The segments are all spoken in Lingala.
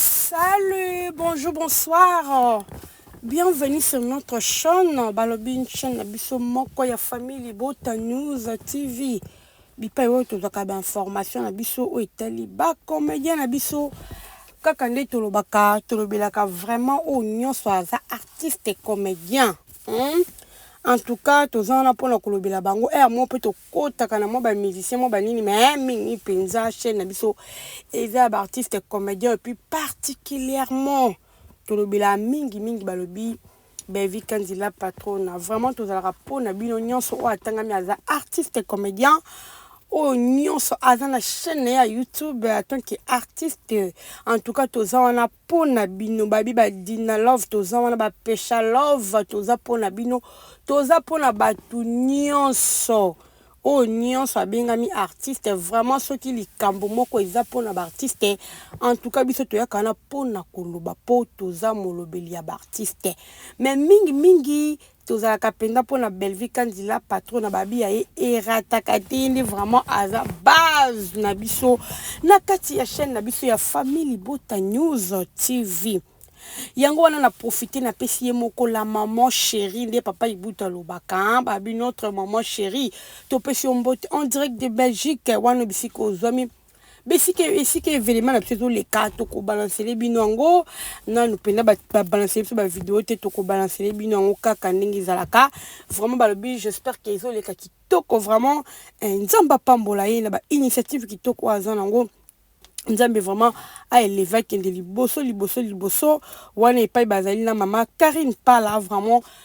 Salut, bonjour, bonsoir. Bienvenue sur notre chaîne. Balobi une chaîne na biso moko ya famille Libota News TV. Bipai oyo tozwaka ba information na biso oyo etali ba comédien na biso kaka nde tolobaka tolobelaka vraiment oyo nyonso aza artiste comédien. Hmm? En tout cas, toza wana mpo na kolobela bango. Eh, moi mpe kotaka na mwa ba musicien mwa banini mais mingi mpenza chaîne na biso eza ya baartiste comédien epuis particulièrement tolobelaka mingi mingi balobi bevi kanzi la patrona vraiment tozalaka mpo na bino nyonso oyo atangami aza artiste comédien oyo nyonso aza na chaîne na ye ya youtube en tant que artiste en tout cas toza wana pona bino babi ba dina love toza wana ba pesha love toza pona bino toza pona batu nionso oyo oh, nionso abengami artiste vraiment soki likambo moko eza pona ba artiste en tout cas biso toyaka wana pona koloba po toza molobeli ya ba artiste mais mingi mingi Tozalaka penza mpo na Bellevue Kandy la patron na babi ya ye erataka te ye nde vraiment aza base na biso na kati ya chaîne na biso ya famille libota news tv yango wana na profite napesi ye moko la maman chérie nde papa ibutu alobaka hein, babi notre maman chérie topesi yo mbote en direct de belgique wana bisika ozwami besika esika evelema na biso ezoleka tokobalansele bino yango nanu mpenza babalansele biso bavideo te tokobalansele bino yango kaka ndenge ezalaka vraiment balobi j'espère ke ezoleka kitoko vraiment eh, nzambe apambola ye na bainitiative kitoko oyo aza nango nzambe vraiment aeleve akende liboso liboso liboso wana epai bazali na mama karine pala vraiment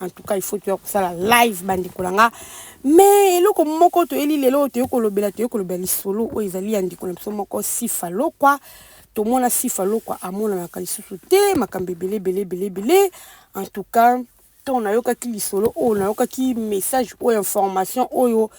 en tout cas il faut toya kosala live bandeko na nga mais eloko moko toyeli lelo oyo toyei kolobela toyei kolobela lisolo oyo ezali ya ndeko na biso moko sifa lokwa tomona sifa lokwa amonanaka lisusu te makambo ebele ebele ebele ebele en tout cas ntango nayokaki lisolo oyo nayokaki message oyo information oyo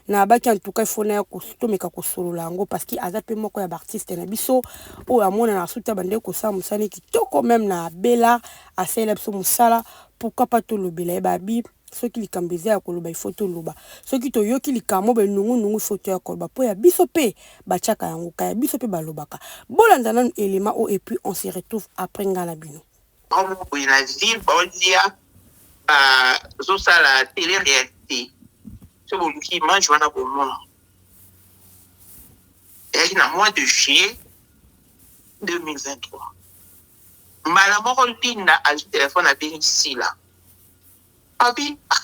Na baki en tout cas il faut naya tomeka kosolola yango parce que aza pe moko ya ba artistes na biso oyo amonana asuta bande kosala mosala ne kitoko meme na Bella asalela biso mosala pourquoi pas tolobela ye babi soki likambo eza ya koloba il faut toloba soki toyoki likambo be nungu nungu il faut toya koloba po ya biso pe batiaka yango ka ya biso pe balobaka bolanda nanu element o et puis on se retrouve après nga na bino Bango boye na ville baolia bazosala tele réalité so boluki image wana bomona ezalaki na mois de juillet 2023 mbala moko linda azwi telefone abengi sila abi ah,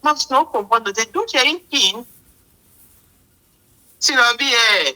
mams na okomprendre te donc ya ikini sila abi e eh,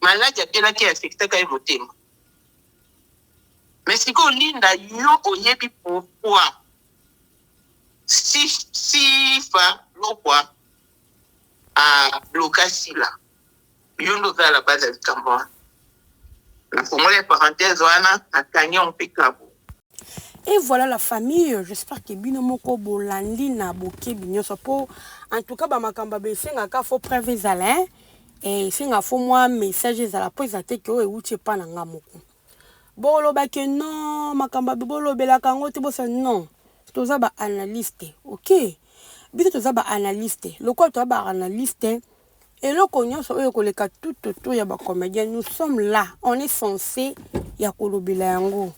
Maladi abelaki e affectaka ye motema. Mais sikoyo Linda yo oyebi pourquoi Sifa Lokwa a bloka Sila. Yo nde oza la base ya likambo wana. Nafongoli parenthèse wana nakangi yango mpe kabo. Et voilà la famille, j'espère que bino moko bolandi na bokebi nyoso po en tout cas ba makamba be senga ka fo preuve ezala hein. Et senga fo moi message ezala po ezate que o euche pa na nga moko. Boloba que non, makamba be bolobela kango te bosa non. Toza ba analyste, OK? Biso toza ba analyste. Lokola toza ba analyste, eloko nyonso oyo ekoleka tututu ya ba comedien nous sommes là on est censé ya kolobela yango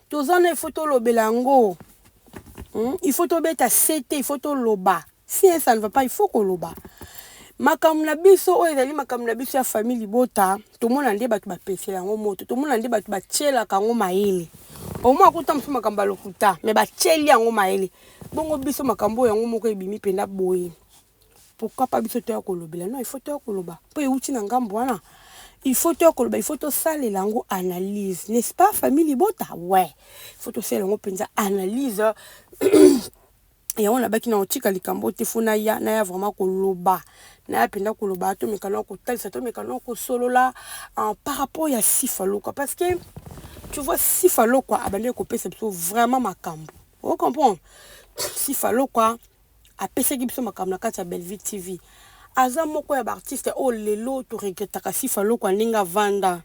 toza na ifo tolobela yango hmm? ifo tobeta sete ifo toloba si ça ne va pas ifo koloba makambo na biso oyo ezali makambo na biso ya famille libota tomona nde bato bapesela yango moto tomona nde bato batyelaka yango mayele omoi akuta mosusu makambo ya lokuta me batyeli yango mayele bongo biso makambo oyo yango moko ebimi mpenza boye Pourquoi pas biso toya kolobela non il faut toya koloba mpo euti na ngambo wana il faut toya koloba il faut tosalela yango analyse n'est ce pas famille libota ouais il faut tosalela yango mpenza analyse yango nabaki na otika likambo te fo naya naya vraiment koloba naya mpenza koloba tomeka na kotalisa tomeka na kosolola ah, par rapport ya sifa lokwa parce que tu vois sifa lokwa abandaki kopesa biso vraiment makambo ocomprendre sifa lokwa apesaki biso makambo na kati ya Bellevue TV aza moko ya ba artiste oyo lelo to regrettaka Sifa Lokwa ndenge avanda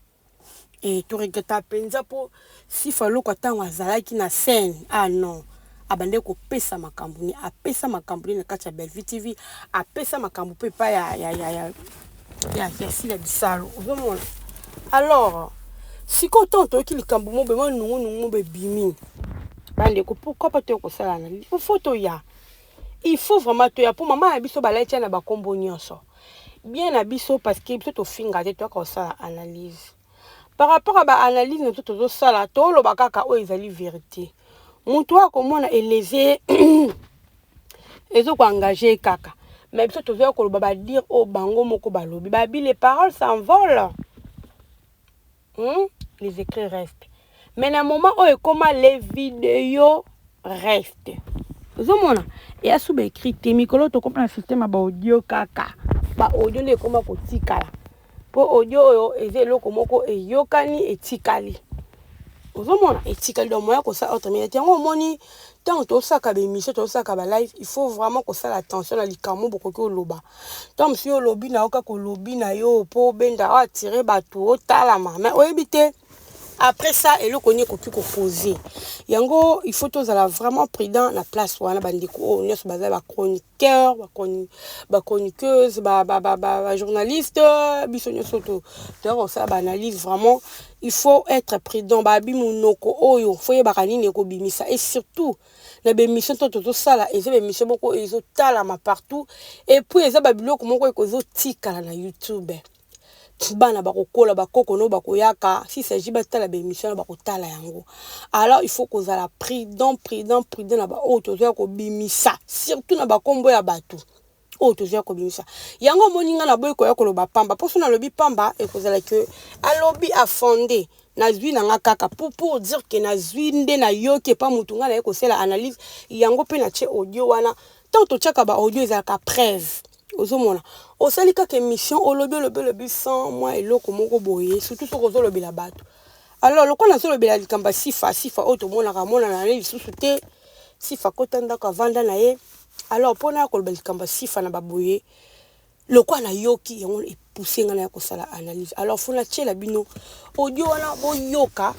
eh to regrettaka penza po Sifa Lokwa tango azalaki na scène ah non abandaki kopesa makambo ni apesa makambo ni na kati ya Bellevue TV apesa makambo pe epai ya ya ya sila bisalu ozomona alors sikoyo ntango toyoki likambo mo bema nungunungu mo bebimi bandeko pourkui pa toya kosalana ifo toya il faut vraiment toya mpo mama na biso balai tia na bankombo nyonso bien na biso parce que biso tofinga te toyaka kosala analyse par rapport à ba analyse na to tozo sala to loba kaka oyo ezali verite mutu oyo akomona eleze ezo ko engage kaka mais biso tozo ya koloba ba dire oyo bango moko balobi ba bi les paroles s'envolent hmm? les écrits restent mais na moment oyo ekoma les videos reste ozomona eya suba écrit te mikolo tokoma na système ya baaudio kaka baaudio nde ekoma kotikala mpo audio oyo eza eloko moko eyokani etikali ozomona etikali donc moya kosala autominate yango omoni ntango tosaka baémission tosaka balive il faut vraiment kosala attention na likambo bokoki oloba ntango mosusu yo olobi na yo kaka olobi na yo mpo obenda oatire bato otalama mais oyebi te après ça eloko nini ekoki kopose yango il faut tozala vraiment prudent na place wana bandeko oyo oh, nyonso baza bachroniqueur bachroniqueuse bajournaliste biso nyonso toya kosala baanalyse vraiment il faut être prudent babi monoko oyo fo yebaka nini ekobimisa et surtout na bemission to tozosala eza bemission moko ezotalama partout et puis eza babiloko moko ekozotikala na youtube bana bakokola ba koko no bakoyaka si s'agit batala ba emission na bakotala yango alors il faut kozala prudent prudent prudent na baoyo tozoya kobimisa surtout na bakombo ya bato oyo tozoya kobimisa yango omoni ngai naboyi koya koloba pamba mpo so nalobi pamba ekozala ke alobi afonde nazwi na nga kaka pour pour dire que nazwi nde nayoki epa motu ngai naye kosala analyse yango mpe na tie audio wana ntango totyaka ba audio ezalaka preuve ozomona osali kaka emission olobi olobi olobi sans mwa eloko moko boye surtout soki ozolobela bato alors lokola nazolobela likambo ya sifa sifa oyo tomonaka amonana ye lisusu te sifa kota ndako avanda na ye alors mpo na koloba likambo ya sifa na baboye lokola nayoki yango epuse ngai na ya kosala analyse alors fona tiela bino audio wana boyoka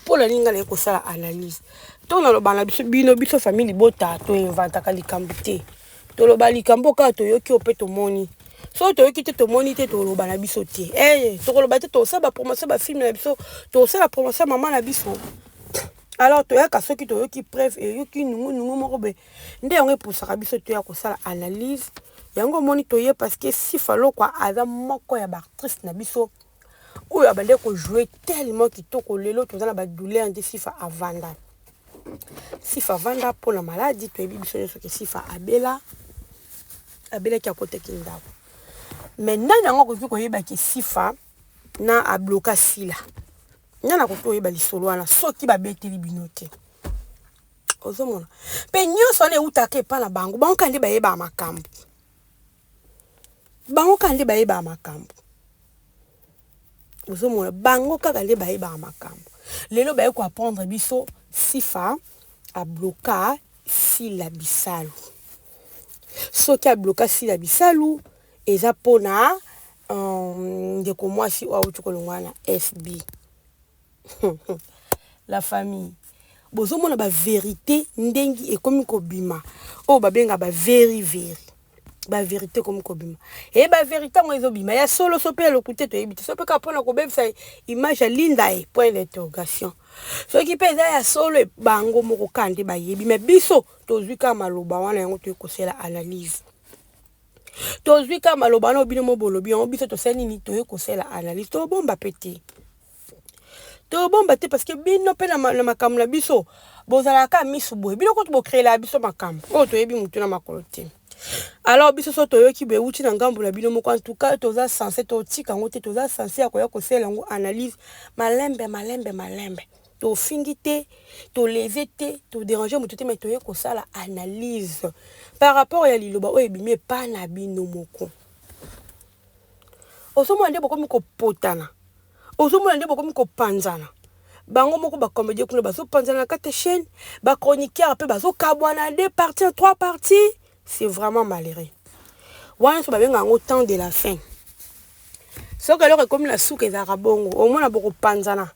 mpo na nini ngai naye kosala analyse ntango naloba na biso bino biso famille libota toinvantaka likambo te toloba likambo kaka toyoki oyo mpe tomoni soki toyoki te tomoni te toloba na biso te eye eh, tokoloba te tosala bapromotion bafilme na biso tosala promotion ya mama na biso alors toyaka soki toyoki preuve eyoki nungunungu moko boye nde yango epusaka biso toya kosala analyse yango omoni toye parce que sifa lokwa aza moko ya baactrice na biso oyo abandaki ko jouer tellement kitoko lelo toza na ba douleur nde sifa avanda sifa avanda mpo na maladi toyebi biso nyonso ke sifa abela abelaki akotaki ndako mais nani yango akoki koyeba ke sifa na abloka sila nani akoki koyeba lisolo wana soki babeteli bino te ozomona mpe nyonso wana eutaka epai na bango bango kaka nde bayebaka makambo Bango kaka nde bayebaka makambo. Ozomona bango kaka nde bayebaka makambo. Lelo baye ko apprendre biso Sifa abloka Sila Bisalu. Soki abloka Sila Bisalu eza pona euh, ndeko mwasi oyo awuti kolongwa na FB. la famille bozomona ba verite ndengi ekomi kobima oyo babenga ba veri veri ba verite ekomi kobima e ba verite yango ezobima ya solo so mpe ya lokuta toyebi te so mpe kaka mpo na kobebisa image ya linda ye point d'interrogation soki mpe eza ya solo e bango moko kaka nde bayebi me biso tozwi kaka maloba wana yango toyei kosala analyse tozwi kaka maloba wana obino mo bolobi yango biso tosali nini toyei kosala analyse tobomba mpe te tobomba te parce que bino mpe na makambo na biso bozalaka kaka misu boye bino kutu bokreelaka biso makambo oyo toyebi motu na makolo te alors biso so toyoki boye euti na ngambo na bino moko antuka toza sense totika yango te toza sense ya koya kosala yango analyse malembe malembe malembe tofingi te toleze te toderange motu te mai toye kosala analyse par rapport ya liloba oyo ebimi epa na bino moko ozomona nde bokomi kopotana ozomona nde bokomi kopanzana bango moko ba comedie kuna bazopanzana na kati ya chaîne ba chroniqueur mpe bazokabwana de parti en trois parti c'est vraiment malheureux wana nyonso babenga yango temps de la fin soki eloko ekomi na suka ezalaka bongo omona bokopanzana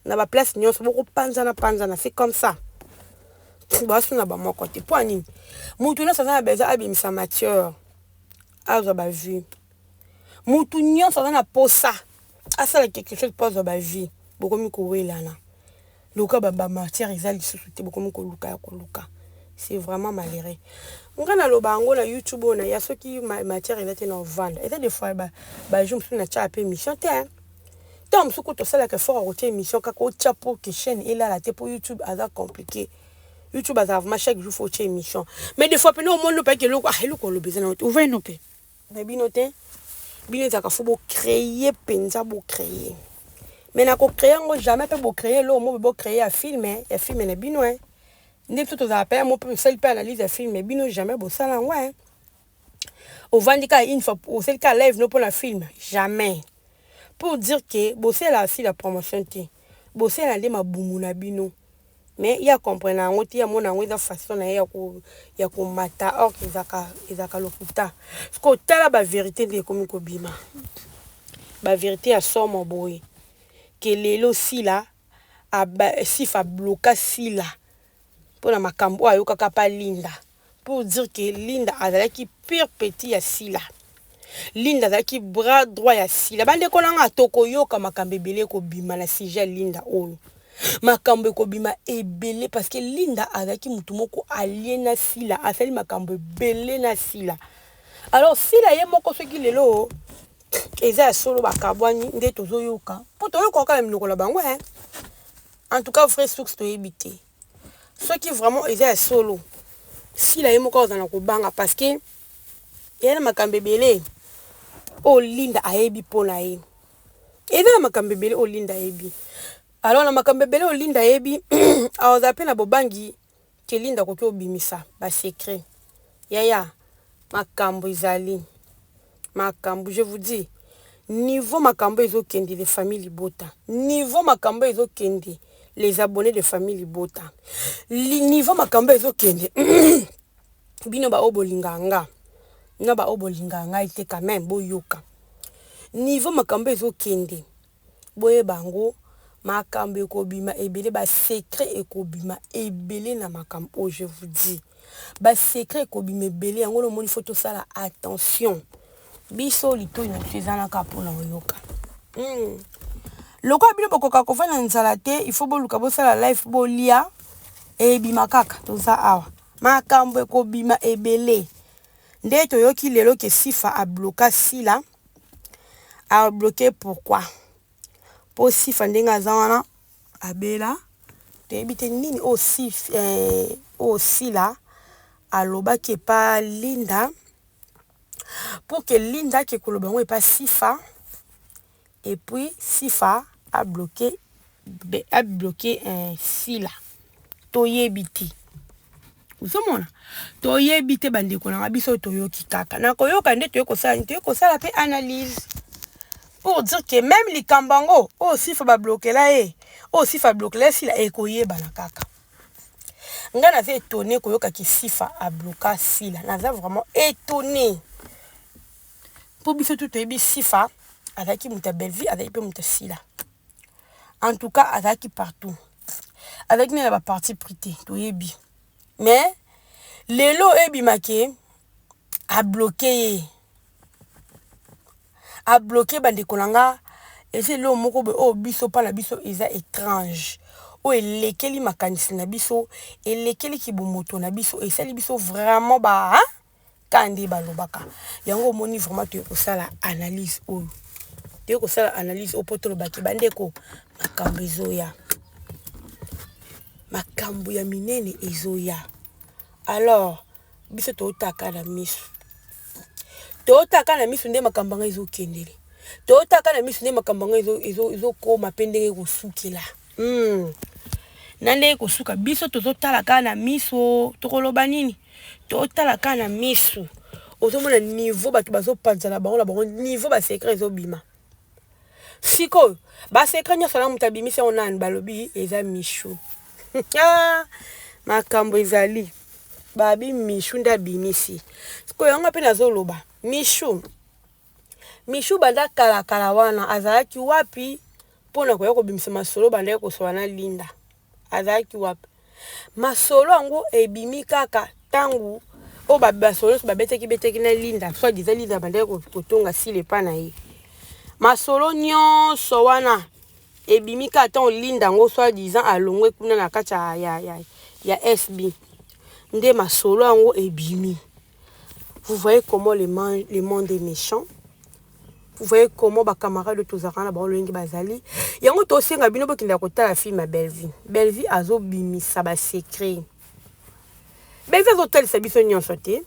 na baplace nyonso bokopanzana panzana c'est comme ça basuna bamoko te mpo ya nini moto nyonso aza na besoin abimisa matière azwa ba vue mutu nionso aza na posa asala quelque chose po azwa ba vue bokomi kowelana lokola ba ba matière eza lisusu te bokomi koluka ya koluka c'est vraiment malheureux nga naloba yango na youtube oyo na ya soki matière eza te na ovanda eza des fois ba ba jour mosusu natyaka pe émission te hein ntango mosusu kutu osalaka effort ya kotia émission kaka otya po ke chaîne elala te po youtube aza compliqué YouTube azala vraiment chaque jour faut chez mission. Mais des fois pena au monde pas que loko ah loko le besoin on va nous payer. Mais bino te. Bino ezaka faut bo créer penza bo créer. Mais na ko créer ngo jamais pe bo créer lo mo bo créer un film, hein. un film na bino hein. Nde tout aux appels mo pe sel pe analyse un film mais bino jamais bo sala ngo hein. ovandi kaka une fois osali kaka live no pona film jamais pour dire que bosela si la promotion te bosela nde mabumu na bino mais ya comprendre yango te ya mona yango eza façon na ye ya ko ya ko mata or que ezaka ezaka lokuta siko tala ba verite nde ekomi kobima ba verite ya somo boye que lelo sila aba sifa bloka sila pona makambo ayokaka pa linda pour dire que Linda azalaki pire petit ya Sila. Linda azalaki bras droit ya Sila. Bande ko nanga toko yoka makambo ebele ko bima na sujet Linda oyo. Makambo ekobima ebele parce que Linda azalaki mutu moko allié na Sila, asali makambo ebele na Sila. Alors Sila ye moko soki lelo eza ya solo bakabwani nde tozo yoka. Po toyoka kaka minoko na bango hein. En tout cas vrai source toyebi te. Soki vraiment eza ya solo sila ye moko azana kobanga parce que eza na makambo ebele oyo linda ayebi mpo na ye eza na makambo ebele oyo linda ayebi alors na makambo ebele oyo linda ayebi akozala mpe na bobangi ke linda akoki kobimisa ba secret Yaya makambu ezali makambu je vous dis niveau makambu ezo kende les famille libota niveau makambu ezo kende les abonnes de famille libota niveau makambu ezo kende bino ba oyo bolinga nga na ba oyo bolinga nga te quand meme boyoka niveau makambu ezo kende Boyeba yango makambu ekobima ebele ba secret ekobima ebele na makambu oyo je vous dis ba secret ekobima ebele yango wana omoni faut tosala attention biso litoyi na biso eza naka pona koyoka hmm. lokola bino bokoka kofanda na nzala te il faut boluka bosala life bolia ebima kaka toza awa makambo ekobima ebele nde toyoki lelo ke sifa abloka sila a bloquer pourquoi po sifa ndenge aza wana abela toyebi te nini oyo sif eh, oyo sila alobaki epa linda pour que linda ake koloba yango epa sifa epuis sifa abloquer a bloquer eh, sila toyebi te ozomona toyebi te bandeko na nga biso toyoki kaka na koyoka nde toye kosala nini toye kosala mpe analyse pour dire que même likambo yango oyo oh, sifa bablokela ye oyo oh, sifa ablokela ye sila ekoyebana kaka ngai naza étonné koyoka ke sifa abloka sila naza vraiment étonné mpo biso tu toyebi sifa azalaki moto ya bellevue azalaki mpe moto ya sila en tout cas azalaki partout azalaki nde na baparti pris te toyebi mais lelo ebimake abloke ye abloke bandeko na nga eza eloo moko boye oyo biso mpa na biso eza étrange oyo elekeli makanisi na biso elekeli kibomoto na biso esali biso vraiment ba ka nde balobaka yango omoni vraiment toye kosala analyse oyo toye kosala analyse oyo mpo tolobaki bandeko makambo ezoya makambo ya minene ezoya alors biso tootaka na miso tootaka na miso nde makambo yango ezokendele tootaka na miso nde makambo yango ezokoma mpe ndenge ekosukela Hmm. na ndenge kosuka biso tozotala kaka na miso tokoloba nini totala kaka na miso ozomona niveau bato bazopanzana bango na bango niveau basekret ezobima sikoyo basekret nyonso na moto abimisi yango nani balobi eza mishu ah, makambo ezali babi mishu nde abimisi sikoyo yango mpe nazoloba mishu Michou banda kala kala wana azalaki wapi mpo na koya kobimisa masolo bandaki kosola na Linda azalaki wapi masolo yango ebimi kaka ntango oyo basolo nyonso babetaki betaki na Linda soit disant Linda bandaki kotonga sile epa na ye masolo nyonso wana ebimi kaka ntango Linda yango soit disant alongwe kuna na kati ya, ya, ya, ya SB nde masolo yango ebimi vous voyez comment le, le monde est méchant vous voyez comment ba camarade oyo tozalaka na bango lolenge bazali yango tosenga bino bokenda kotala film ya bellevie bellevie azobimisa basecret bellevie azotalisa biso nyonso te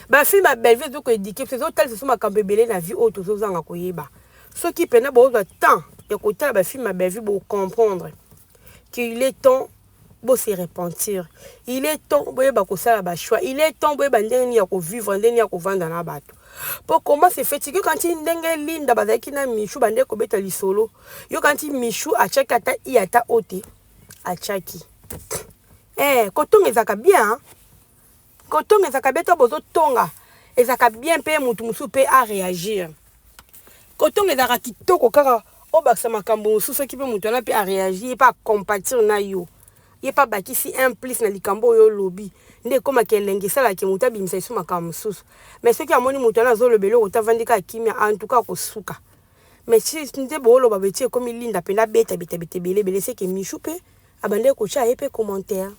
bafilme ya bellevie ezo koedike biso ezotalisa biso makambo ebele na vie oyo tozozanga koyeba soki mpena bozwa temps ya kotala bafilme ya bellevie bocomprendre qu'il est temps Bo se repentir. Il est temps boyeba kosala ba choix. Il est temps boyeba ndenge nini ya ko vivre, ndenge nini ya kovanda na bato. Po comment se fait-il que quand ndenge Linda bazalaki na Michou bande kobeta lisolo, yo quand Michou achaki ata i ata ote, achaki. Eh, kotonga ezaka bien hein. Kotonga ezaka bien to bozo tonga ezaka bien pe mutu mususu pe a reagir. Kotonga ezaka kitoko kaka obakisa makambo mususu soki pe mutu wana pe a reagir pe a compatir na yo. Ye pe abakisi un plus na likambo oyo olobi nde ekoma ke elengi esala ke mutu abimisa lisusu makambo mususu. Mais soki amoni mutu wana azoloba eloko te avandi kaka kimia en tout cas akosuka. Mais si nde boloba beti ekomi linda pena beta beta beta ebele ebele seke Michou pe abandaki kotia ye pe commentaire.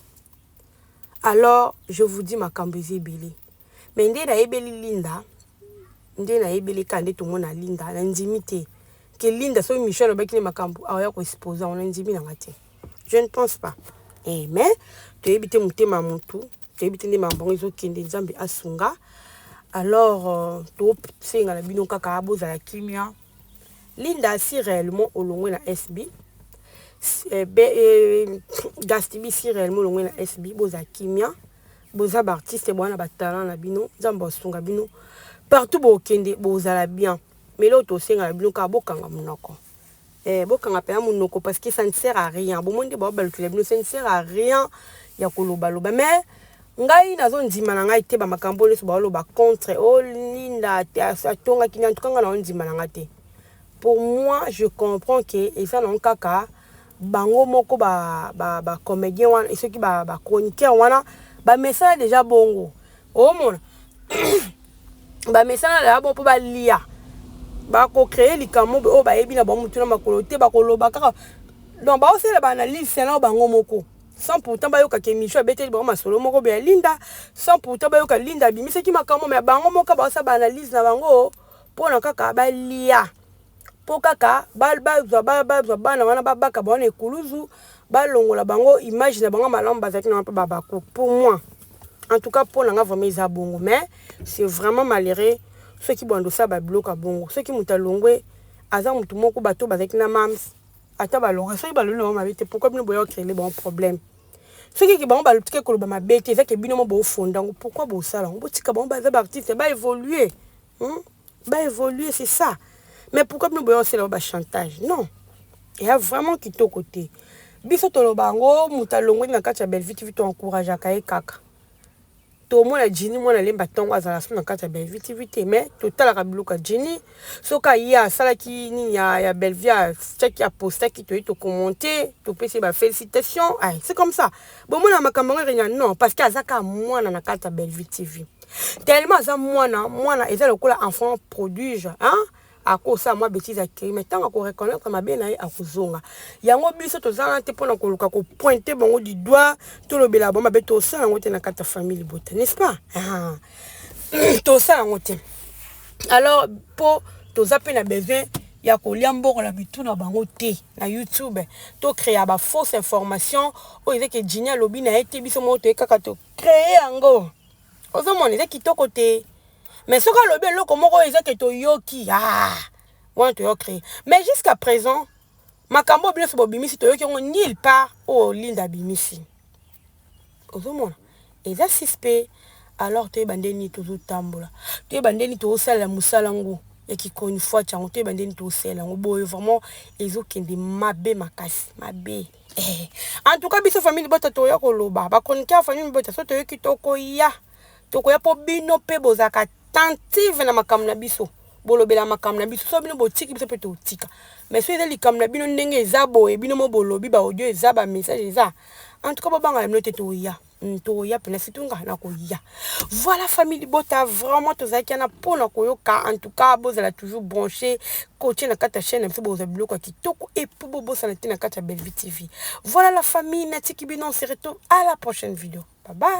Alors je vous dis makambo eza ebele mais nde nayebeli Linda nde nayebeli kaka nde tomona Linda nandimi te ke Linda soki Michel alobaki nde makambo aoya ah, koexpose yango nandimi nanga te je ne pense pas eh, mais toyebi te motema ya motu toyebi te nde makambo yango ezokende nzambe asunga alors euh, tosenga na bino kaka bozala kimia Linda si reellement olongwe na SB eh, be, eh, Gastibi si reellement olongwe na SB boza kimia boza ba artiste bwana ba talent na bino nzambe asunga bino partout bokende bozala bien mais leo tosengala bino kaka bokanga monoko eh, bokanga mpenza monoko parce que ça ne sert à rien bomoni nde baobalukela bino ça ne sert à rien ya kolobaloba mais Ngai nazo ndima na ngai te ba makambo oyo nioso bao loba contre oh linda atongaki nini en tout cas ngai nao ndima na ngai te pour moi je comprends que eza nango kaka bango moko ba ba ba comedien wana soki ba ba chroniqueur wana ba mesana deja bongo omona ba mesana deja bongo po ba lia ba ko créer likambo oyo ba yebi na bango mutuna makolo te ba ko loba kaka donc ba osela ba analyse na bango moko sans pourtant bayokaka émission abeteli bango masolo moko boye ya linda sans pourtant bayoka linda abimisaki makambo ya bango moko baosa baanalyse na bango mpo na kaka balia mpo kaka bazwa bazwa bana wana babaka bango na ekuluzu balongola bango image na bango malamu bazalaki na mpe babaku pour moi en tout cas mpo na nga vraiment eza bongo mais c'est vraiment malheureux soki bwandosa babiloka bongo soki moto alongwe aza motu moko bato bazalaki na mams Ata balonga soki baloni na bango mabe te pourquoi bino boya okrele bango problème soki ke bango balutike koloba mabe te eza ke bino mo bofonda yango pourquoi bosala yango botika bango baza baartiste ba évoluer hmm? ba évoluer c'est ça mais pourquoi bino boya osala ba chantage non eya vraiment kitoko te biso toloba yango moto alongweli na kati ya bellevue tv toencourageaka ye kaka Tomona Djinny mwana lemba tongo azala sous na kati ya Bellevue TV te mais totalaka biloko ya Djinny soki aye asalaki nini ya, ya Bellevue atiaki apostaki toye to commenter topesi ba félicitations ay c'est comme ça bomona makambo yango ekenya non parce que aza kaka mwana na kati ya Bellevue TV tellement aza mwana mwana eza lokola enfant prodige hein akosala mwa betise ya kiri mais ntango akoreconnaitre mabe na ye akozonga yango biso toza wana te mpo na koluka kopointe bango du doigt tolobela bango mabe tosala yango te na kati ya famille libota n'est ce pas ah. tosala yango te alors mpo toza mpe na besoin ya kolia mbongo na mitu na bango te na youtube tokrea bafausse information oyo ezeke jini alobi na ye te biso moko toye kaka tocree yango ozomona eza kitoko te mais soki alobi eloko moko oyo eza ke toyoki ah, wana toyo créer mais jusqu'à présent makambo oyo binoso bobimisi toyoki yango nil part oyo linda abimisi ozomona eza suspect alors toyeba nde nini tozotambola toyeba nde nini tozosalela mosala yango ya kikonifwati yango toyeba nde nini tozosalela yango boye vraiment ezokende mabe makasi mabe Eh, en tout cas biso famille libota toya koloba ba chroniqueur famille libota so toyoki tokoya tokoya mpo bino mpe bozalaka tentive na makambo na biso bolobela makambo na biso so bino botiki biso mpe totika mais so eza likambo na bino ndenge eza boye bino mo bolobi baaudio eza bamessage eza en tout cas bobangana bino te toya Hmm, tokoya mpena surtout nga nakoya voilà famille libota vraiment tozalaki wana mpo na koyoka en tout cas bozala toujours branché kotie na kati ya chaîne na biso bokozwa biloko ya kitoko epuis bobosana te na kati ya bellevue tv voilà la famille natiki bino on se retrouve à la prochaine vidéo bye bye